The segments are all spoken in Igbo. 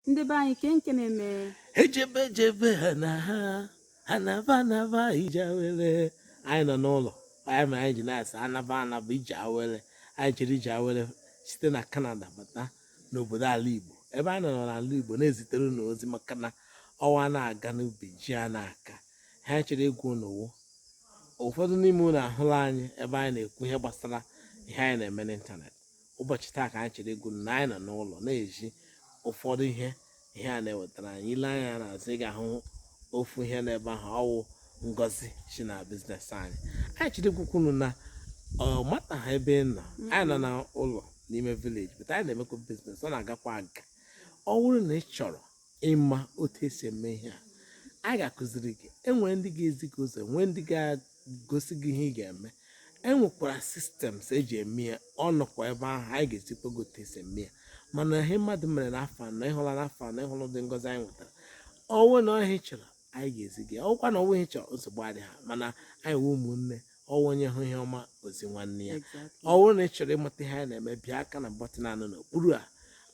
ndị be anyị kee nke na-eme ejebe ejebe ha na ha ha naba anaba ije awele anyị nọ n'ụlọ anyị ma anyị ji na-asa anaba anaba ije awele anyị jiri ije awele site na kanada bata n'obodo ala igbo ebe anyị nọ n'ala igbo na-ezitere unu ozi maka na ọnwa na-aga n'ubi ji a na-aka ha anyị chọrọ ịgwa unu ụfọdụ n'ime unu ahụla anyị ebe anyị na-ekwu ihe gbasara ihe anyị na-eme n'ịntanetị ụbọchị taa ka anyị chọrọ ịgwa unu na anyị nọ n'ụlọ na-ezi ụfọdụ ihe ihe a na-ewetara anyị i lee anya n'azụ ị ga-ahụ ofu ihe n'ebe ahụ ọwụ ngozi si na business anyị anyị chọrọ ịgwakwa unu na ọ mataha ebe ị nọ anyị nọ n'ụlọ n'ime village but anyị na-emekwa business ọ na-agakwa aga ọwụrụ na ị chọrọ ịma otu esi eme ihe a anyị ga-akụziri gị enwere ndị ga-ezi gị ụzọ nwee ndị ga-egosi gị ihe ị ga-eme enwekwara systems eji eme ya ọ nọkwa ebe ahụ anyị ga-ezikwa gị otu esi eme ya mana ihe mmadụ mere n'afọ anọ ịhụla n'afọ anọ ịhụla ụdị ngozi anyị nwetara ọwụ na ọwụ ihe ị chọrọ anyị ga-ezi gị ọwụkwa na ọwụghị ihe ị chọrọ nsogbu adịghị ya mana anyị wụ ụmụnne ọwụ onye hụ ihe ọma o zi nwanne ya Exactly. ọwụ na ị chọrọ ịmata ihe anyị na-eme pịa aka na button a nọ n'okpuru a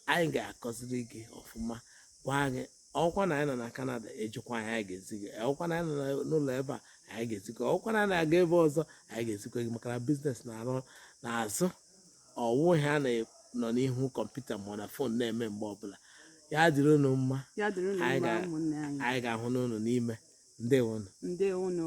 anyị ga-akụziri gị ọfụma gwa gị ọwụkwa na anyị nọ na kanada ejikwa anyị anyị ga-ezi gị ọkwa na anyị nọ na- n'ụlọ ebe a anyị ga-ezi gị ọwụkwa na anyị na-aga ebe ọzọ anyị ga-ezikwa gị maka na business na-arụ n'azụ ọwụ ihe a na-anọ n'ihu kọmputa ma ọwụ na fon na-eme mgbe ọbụla ya dịrị unu mma anyị ga-ahụ unu n'ime ndewonụ ndewonụ